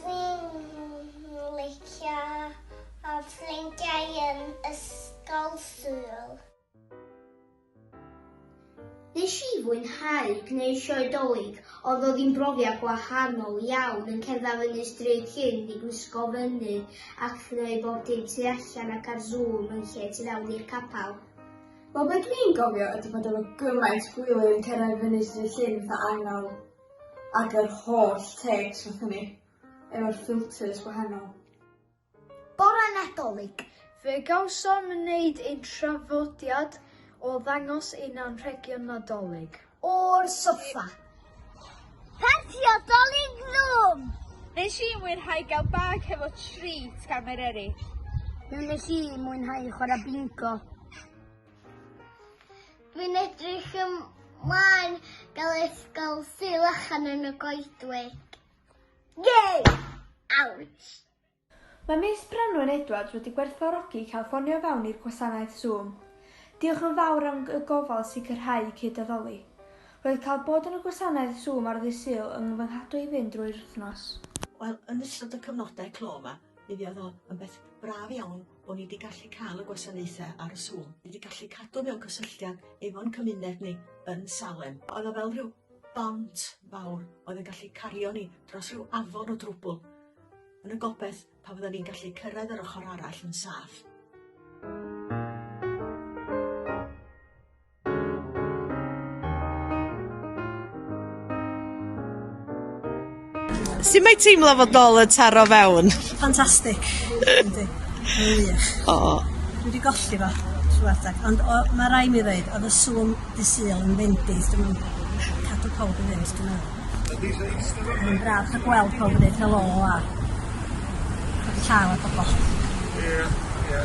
Dwi'n licio fy ffrindiau yn Ysgol Sul. Nes i fwynhau gwneud sioe Dolig, oedd o ddim brofiad gwahanol iawn yn cerdded fyny stryd cyn i gwisgo fyny ac gneud bob dim tu allan ac ar Zoom yn lle tu fewn i'r capel. Wel be dwi'n gofio ydi bod efo gymaint gwyliau yn cerdded fyny stryd llyn fatha angel. Ag yr holl takes nathon ni efo'r filters gwahanol. Bore Nadolig! Fe gawsom wneud ein traddodiad o ddangos ein anrhegion Nadolig. O'r soffa! Parti Nadolig Zoom! Nes i mwynhau gael bag hefo treat gan Mair Eryll. Nes i mwynhau chwarae bingo. Rwy'n edrych ymlaen gael ysgol Sul Achan yn y Goedwig. Yay! Ouch! Mae Miss Branwen Edwards wedi gwerthfawrogi cael ffonio fewn i'r gwasanaeth Zoom. Diolch yn fawr am y gofal sicrhau cyd-addoli. Roedd cael bod yn y gwasanaeth Zoom ar ddydd Sul yn nghyfynghadwy i fynd drwy'r wythnos. Wel, yn ystod y cyfnodau clo 'ma, mi fuodd o yn beth braf iawn bo' ni 'di gallu ca'l y gwasanaethe ar y Zoom, ni 'di gallu cadw mewn cysylltiad efo'n cymuned ni yn Salem. O'dd o fel rhyw bont fawr oedd yn gallu cario ni dros rhyw afon o drwbwl, yn y gobeth pa fyddan ni'n gallu cyrraedd yr ochr arall yn saff. Sut mae teimlo fod nôl yn taro fewn? Ffantastig. Yndi. Wych. O. Dwi wedi golli fo trwy adeg, ond o, mae rai mi ddweud, oedd y sŵn di syl yn fendis, dwi'n meddwl, cadw pawb yn fynd, dwi'n meddwl. Mae'n braf cael gweld pawb yn dweud helo a cael llaw a pobol. Ie, ie.